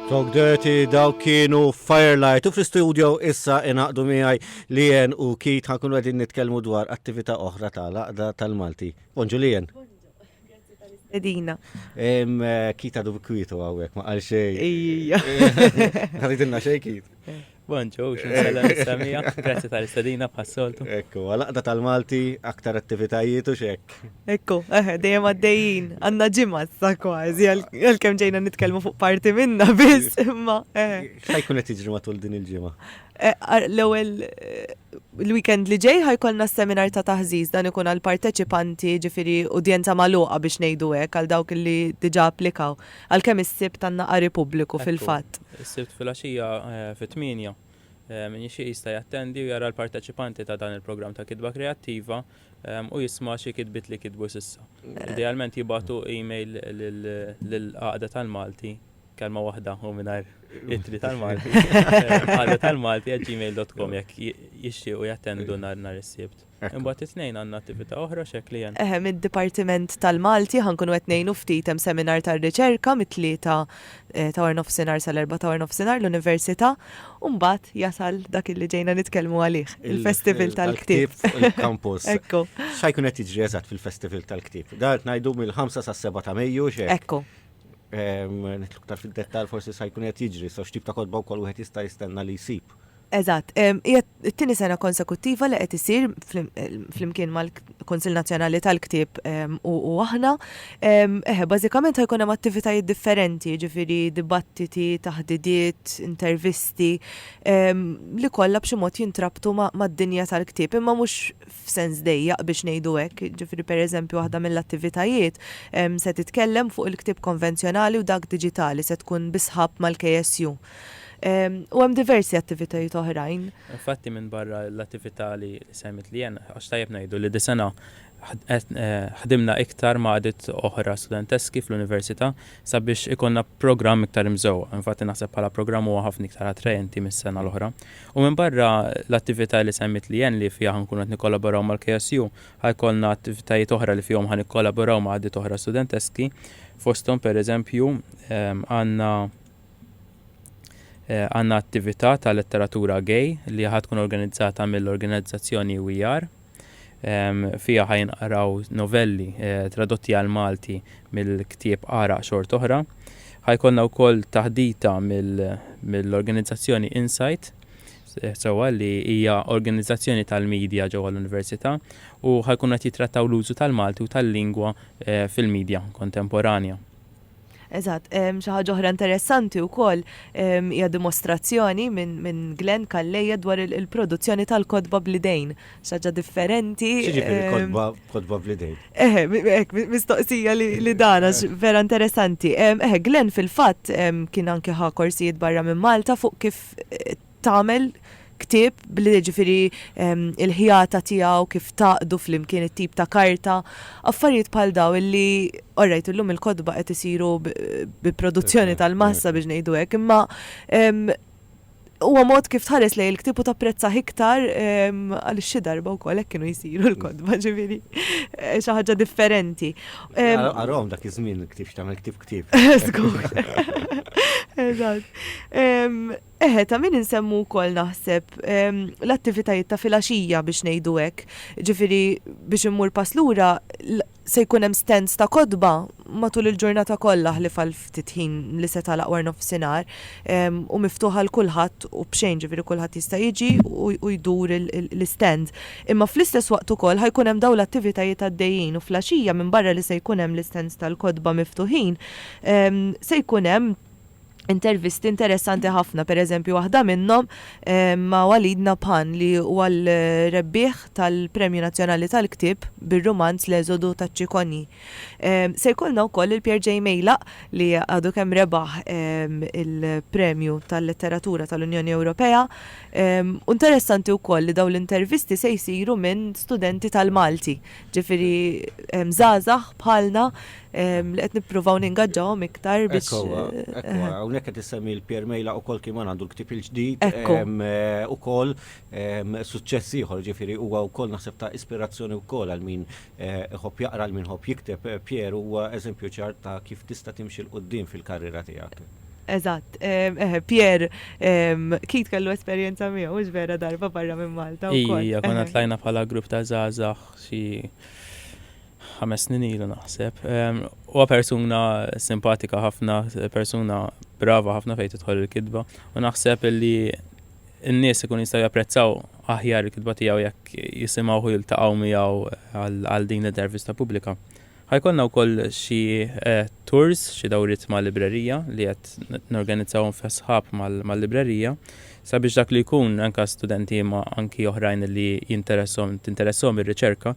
Talk Dirty daw kienu Firelight u fl-studio issa inaqdu miegħi Lien u Kit ħankunu qegħdin nitkellmu dwar attività oħra tal-Aqda tal-Malti. Bonġu Lien. Edina. Eh, kita du kwitu għawek, ma għal xej. Ija. Għalidinna xej kit. Bonġu, xinħalla nistamija, grazzi tal-istadina bħas-soltu. Ekku, għalaqda tal-Malti, aktar attivitajiet u xek. Ekku, eħe, eh, dejjem għaddejjin, għanna ġimma sa kważi, għal-kem ġejna nitkelmu fuq parti minna biss, imma eħe. Eh. Xajkun qed jiġri matul din il-ġimma? Eh, l-ewwel l-weekend li ġej ħajkolna seminar ta' taħżiż dan ikun għal parteċipanti ġifiri udjenza magħluqa biex ngħidu hekk għal dawk li diġà applikaw. Għalkemm is-Sibt għandna qari pubbliku fil-fatt. Ekku, is-Sibt filgħaxija fit-tmienja, min jixtieq jista' jattendi u jara l-parteċipanti ta' dan il-programm ta' kitba kreattiva u jisma' xi kitbiet li kitbu s'issa. Idealment jibagħtu email lill-Għaqda tal-Malti, kelma waħda u mingħajr ittri tal-Malti, għaqdatalmalti@gmail.com jekk jixtiequ jattendu nhar is-Sibt. Imbagħad it-Tnejn għandna attività oħra x'eklijen? Eħe, mid-Dipartiment tal-Malti ħa nkunu qed ngħinu ftit hemm seminar tar-riċerka mit-tlieta ta' warnofsinhar sal-erbgħa ta' warnofsinhar l-Università u mbagħad jasal dak illi ġejna nitkellmu għalih, il-Festival tal-Ktieb. Il-Campus. Ekku. X'ħa jkun qed jiġri eżatt fil-Festival tal-Ktieb? Dan qed ngħidu mill-ħamsa sas-seba' ta' Mejju x'hekk? Ekku. Nidħlu iktar fid-dettall forsi x'ħa jkun qed jiġri, so x'tip ta' kotba wkoll wieħed jista' jistenna li jsib? Eżatt. Hija t-tieni sena konsekuttiva li qed isir flimkien mal-Kunsill Nazzjonali tal-Ktieb u aħna. Eħe, bażikament ħa jkun hemm attivitajiet differenti, jiġifieri dibattiti, taħdidiet, intervisti li kollha b'xi mod jintrabtu mad-dinja tal-ktieb, imma mhux f'sens dejjaq biex ngħidu hekk. Jiġifieri pereżempju waħda mill-attivitajiet se titkellem fuq il-ktieb konvenzjonali u dak diġitali, se tkun bi sħab mal-KSU. U hemm diversi attivitajiet oħrajn. Infatti minbarra l-attività li semmit Leanne, għax tajjeb ngħidu li dis-sena ħdimna iktar ma' għaqdiet oħra studenteski fl-Università sabiex ikollna programm iktar imżewwaq. Infatti naħseb bħala programm huwa ħafna iktar attraenti mis-sena l-oħra. U minbarra l-attività li semmiet Leanne li fiha ħankunu qed nikkolaboraw mal-KSU, ħa jkollna attivitajiet oħra li fihom ħa nikkolaboraw ma' għaqdiet oħra studenteski, fosthom pereżempju għandna għandna attività ta' letteratura gay li ħad tkun organizzata mill-organizzazzjoni UER. Fija ħajnqraw novelli eh, tradotti għal Malti mill-ktieb Ara xort oħra. Ħajkonna wkoll taħdita mill-organizzazzjoni Insight eh, sewa li hija organizzazzjoni tal-medja ġewwa l-Università u ħajkun qed jitrattaw l-użu tal-Malti u tal-lingwa eh, fil-medja kontemporanja. Eżatt, xi ħaġa oħra interessanti wkoll hija dimostrazzjoni minn Glenn Calleja dwar il-produzzjoni tal-kotba bl-idejn. Xi ħaġa differenti. Kotba bl-idejn. Eħe, hekk mistoqsija li dana vera interessanti. Eħe, Glenn fil-fatt kien anke ħa korsijiet barra minn Malta fuq kif tagħmel ktieb bl jiġifieri l-ħjata tiegħu kif tgħaqqdu flimkien it-tip ta' karta, affarijiet bħal dawn illi orrajt illum il-kotba qed isiru bi produzzjoni tal-massa biex ngħidu hekk, imma huwa mod kif tħares lejn il-ktieb u tapprezzah iktar għaliex xi darba wkoll hekk kienu jsiru l-kotba ġifieri xi ħaġa differenti. Arahom dak iż-żmien il-ktieb x'tagħmel ktieb ktieb. Żgur. Eżatt. Eħe, ta' min insemmu wkoll naħseb l-attivitajiet ta' filgħaxija biex ngħidu hekk. Ġifieri biex immur pass lura se jkun hemm stands ta' kotba matul il-ġurnata kollha ħlief għal ftit ħin li se tagħlaq wara nofsinhar u miftuħ għal kulħadd u b'xejn, ġifieri kulħadd jista' jiġi u jdur l-istands. Imma fl-istess waqt ukoll ħa jkun hemm dawn l-attivitajiet għaddejjin u fl-għaxija minbarra li se jkun hemm l-istands tal-kotba miftuħin se jkun hemm intervisti interessanti ħafna, per eżempju waħda minnhom ma' Walid Nabhan li huwa l-rebbieħ tal-Premju Nazzjonali tal-Ktieb bir-rumanz L-Eżodu taċ-Ċikonji. Se jkollna wkoll lil Pierre J. Meylaq li għadu kemm rebaħ il-Premju tal-Letteratura tal-Unjoni Ewropea. U interessanti wkoll li dawn l-intervisti se jsiru minn studenti tal-Malti ġifieri żgħażagħ bħalna li qed nippruvaw ningaġġawhom iktar biex. Ekku, hawnhekk qed issemmi l-Pier Mejla ukoll kien għandu l-ktieb il-ġdid ukoll suċċess ieħor ġifieri huwa wkoll naħseb ta' ispirazzjoni wkoll għal min iħobb jaqra għal min iħobb jikteb. Pier huwa eżempju ċar ta' kif tista' timxi 'l quddiem fil-karriera tiegħek. Eżatt. Eħe, Pierre Keith kellu esperjenza miegħu, mhux vera, darba barra minn Malta wkoll. Ija, konna tlajna bħala grupp ta' żgħażagħ xi ħames snin ilu naħseb. Huwa persuna simpatika ħafna, persuna brava ħafna fejn tidħol il-kitba u naħseb li n-nies ikun jistgħu japprezzaw aħjar il-kitba tiegħu jekk jisimgħu jiltaqgħu miegħu għal din l-intervista pubblika. Ħa jkollna wkoll xi tours, xi dawriet mal-librerija li qed norganizzawhom fi sħab mal-librerija sabiex dak li jkun anke studenti imma anki oħrajn li jinteressahom tinteressahom ir-riċerka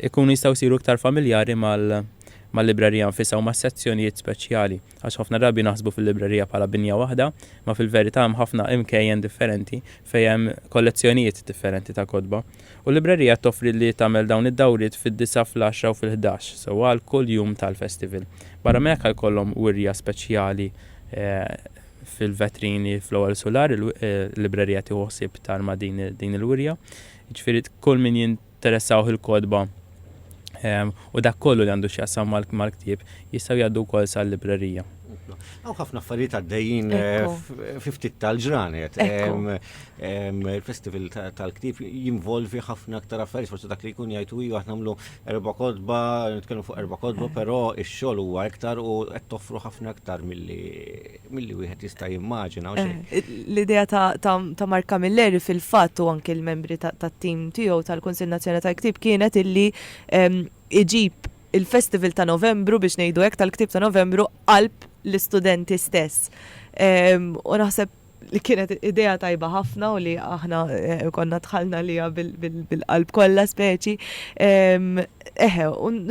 jkunu jistgħu jsiru iktar familjari mal-librerija nfisha u mas-sezzjonijiet speċjali. Għax ħafna drabi naħsbu fil-librerija bħala binja waħda, imma fil-verità hemm ħafna imkejjen differenti fejn hemm kollezzjonijiet differenti ta' kotba. U l-librerija toffri li tagħmel dawn id-dawriet fid-disgħa, fl-għaxra u fil-ħdax, sewwa għal kull jum tal-festival. Barra minn hekk ħa jkollhom wirja speċjali fil-vetrini fl-ewwel sular, il-librerija tieħu ħsieb tagħrma din il-wirja. Jiġifieri kull min jinteressawh il-kotba u dak kollu li għandu x'jaqsam mal-ktieb jistgħu jgħaddu wkoll sal-librerija. Hawn ħafna affarijiet għaddejjin fi ftit tal-ġranet. Il-festival tal-ktieb jinvolvi ħafna aktar affarijiet, forsi dak li jkun jgħid u aħna nagħmlu erba' kotba, nitkellmu fuq erba' kotba, però x-xogħol huwa iktar u qed toffru ħafna aktar milli milli wieħed jista' jimmaġina u xejn. L-idea ta' Mark Camilleri fil-fatt u anke l-membri tat-tim tiegħu tal-Kunsill Nazzjonali tal-Ktieb kienet illi iġib il-festival ta' Novembru biex ngħidu hekk tal-ktieb ta' Novembru qalb l-istudenti stess. U naħseb li kienet idea tajba ħafna u li aħna eh, konna tħalna li bil-qalb kollha speċi. Eħe,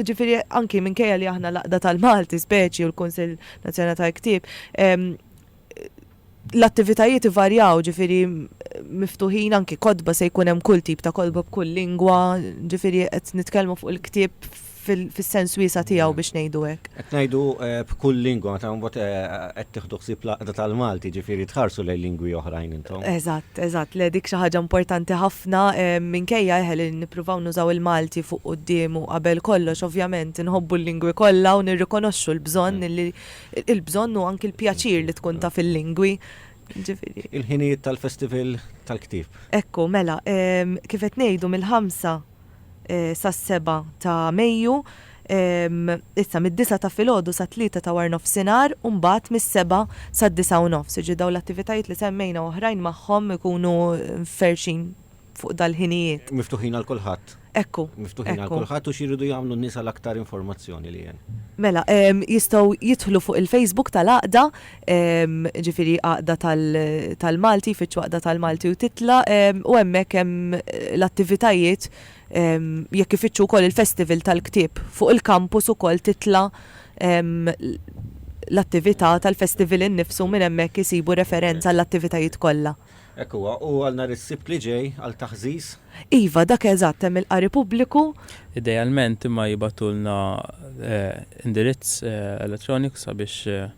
ġifiri anki minkejja li aħna laqda tal-Malti speċi u l-Kunsil Nazzjonali tal-Ktieb, l-attivitajiet ivarjaw, ġifiri miftuħin anki kodba se jkun hemm kull tip ta' kodba b'kull lingwa, ġifiri qed nitkellmu fuq il-ktieb fis-sens wiesa tiegħu biex ngħidu hekk. Qed ngħidu eh, b'kull lingwa, meta mbagħad eh, qed tieħdu ħsieb l-għaqda tal-Malti, ġifieri tħarsu lejn lingwi oħrajn. tagħhom. Eżatt, eżatt. Le dik xi ħaġa importanti ħafna minkejja eħe li nippruvaw nużaw il-Malti fuq quddiem u qabel kollox ovvjament inħobbu l-lingwi kollha u nirrikonoxxu l-bżonn li il-bżonn u anki l-pjaċir li tkun taf il-lingwi. Ġifieri. Il-ħinijiet tal-Festival tal-Ktieb. Ekku, mela, kif qed ngħidu mill-ħamsa. sas-seba' ta' Mejju, issa mid-disgħa ta' filgħodu sat-tlieta ta' warnofsinhar u mbagħad mis-seba' sad-disgħa u nofs. Jiġri dawn l-attivitajiet li semmejna u oħrajn magħhom ikunu mferrxin fuq dal-ħinijiet. Miftuħin għal kulħadd. Ekku, ekku. Miftuħin għal kulħadd u x'iridu jagħmlu n-nies għal aktar informazzjoni li hemm? Mela, jistgħu jidħlu fuq il-Facebook tal-Għaqda, jiġifieri għaqda tal-Malti, jfittxu għaqda tal-Malti u titlaq u hemmhekk hemm l-attivitajiet jekk ifittxu wkoll il-festival tal-ktieb. Fuq il-kampus ukoll titla' l-attività tal-festival innifsu minn hemmhekk isibu referenza għall-attivitajiet kollha. Hekk huwa, u għal nhar is-Sibt li ġej għal taħżiż? Iva, dak eżatt, hemm il-qari pubbliku. Idealment imma jibgħatulna indirizz elettroniku sabiex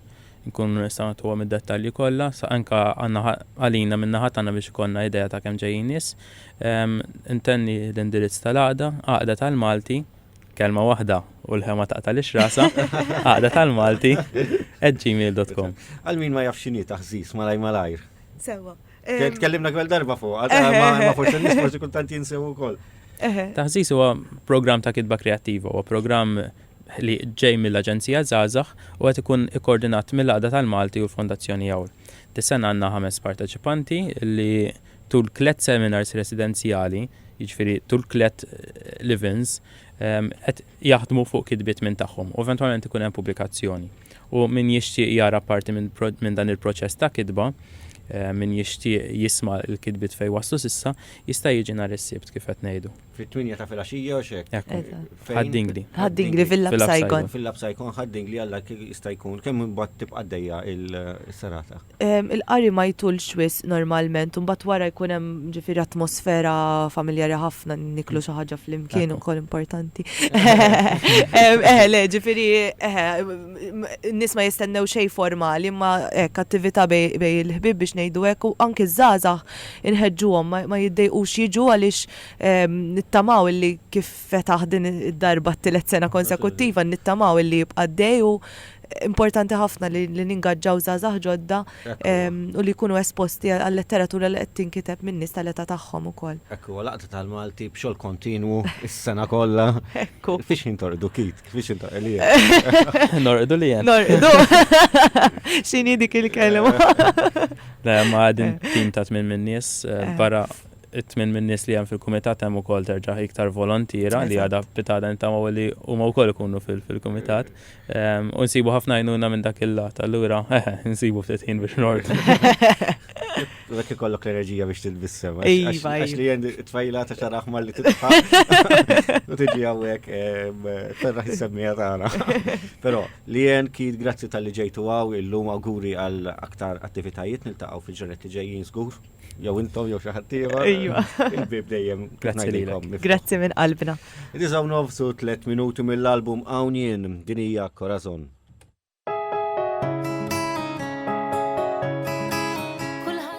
inkunu nistgħu nagħtuhom id-dettalji kollha, anke għalina min-naħa tagħna biex ikollna idea ta' kemm ġejjin nies. Intenni l-indirizz tal-għaqda, Għaqda tal-Malti, kelma waħda u l-ħema taqtagħlix rasha, Għaqda tal-Malti, at gmail dot com. Għal min ma jafx x'inhi taħżiż malajr malajr? Sewwa. Tkellimna kwel darba fuq, ma forse nis forse kultant jinsew ukoll. Taħżis huwa programm ta' kitba kreattiva, huwa programm li ġej mill-Aġenzija Zazax u qed ikun ikkoordinat mill-Għaqda tal-Malti u l-Fondazzjoni Jawl. Dis-sena għandna ħames parteċipanti li tul tliet seminars residenzjali, jiġifieri tul tliet livins, qed jaħdmu fuq kitbiet minn tagħhom u eventwalment ikun hemm pubblikazzjoni. U min jixtieq jara parti minn dan il-proċess ta' kitba, min jixtieq jisma' l-kitbiet fejn waslu s'issa, jista' jiġi nhar is-Sibt kif qed ngħidu. Fit-tminja ta' filgħaxija u x'hekk. Hekk hu. Fejn? Ħad-Dingli. Ħad-Dingli fil-Lab Saigon. Fil-Lab Saigon, Ħad-Dingli għal dak jista' jkun. Kemm imbagħad tibqa' għaddejja s-serata? Il-qari ma jtulx wisq normalment u mbagħad wara jkun hemm ġifieri atmosfera familjari ħafna, niklu xi ħaġa flimkien ukoll importanti. Eħe, le, ġifieri eħe, n-nies ma jistennew xejn formali imma hekk attività bejn il-ħbieb biex ngħidu hekk u anke ż-żgħażagħ inħeġġuhom ma jiddejqux jiġu għaliex nittamaw illi kif fetaħ din id-darba t-tielet sena konsekuttiva nittamaw illi jibqa' dej u importanti ħafna li ningaġġaw żgħażagħ ġodda u li jkunu esposti għal-letteratura li qed tinkiteb min-nies tal-età tagħhom ukoll. Hekk huwa Laqgħa tal-Malti b'xogħol kontinwu s-sena kollha. Ekku. Fiex ħin torqdu Keith? Fiex ħin torqdu li hemm? Norqdu li hemm. Norqdu. X'inhi dik il-kelma? Le, ma' din tim ta' tmien min-nies barra it-tmien min-nies li hemm fil-kumitat hemm ukoll terġa' iktar volontiera li għadha pitada nittamaw li huma wkoll ikunu fil-kumitat. Ehm, u nsibu ħafna għajnuna minn dak il-lat, allura nsibu ftit ħin biex nord. Dak ikollok l-enerġija biex tilbissem. Iva, iva. Għax li jend tfajla ta' xaraħ ma li titfa. U tiġi għawek, ehm, terra jissemmija tagħna. Però li jend kid grazzi tal-li ġejtu għaw illum għaguri għal aktar attivitajiet niltaqgħu fil-ġenet li ġejjin żgur. jew intom jew xi ħadd ieħor. Ejwa. Il-bib dejjem Grazzi lilkom. Grazzi minn qalbna. Diżaw nofsu tliet minuti mill-album hawn jien din hija Corazon.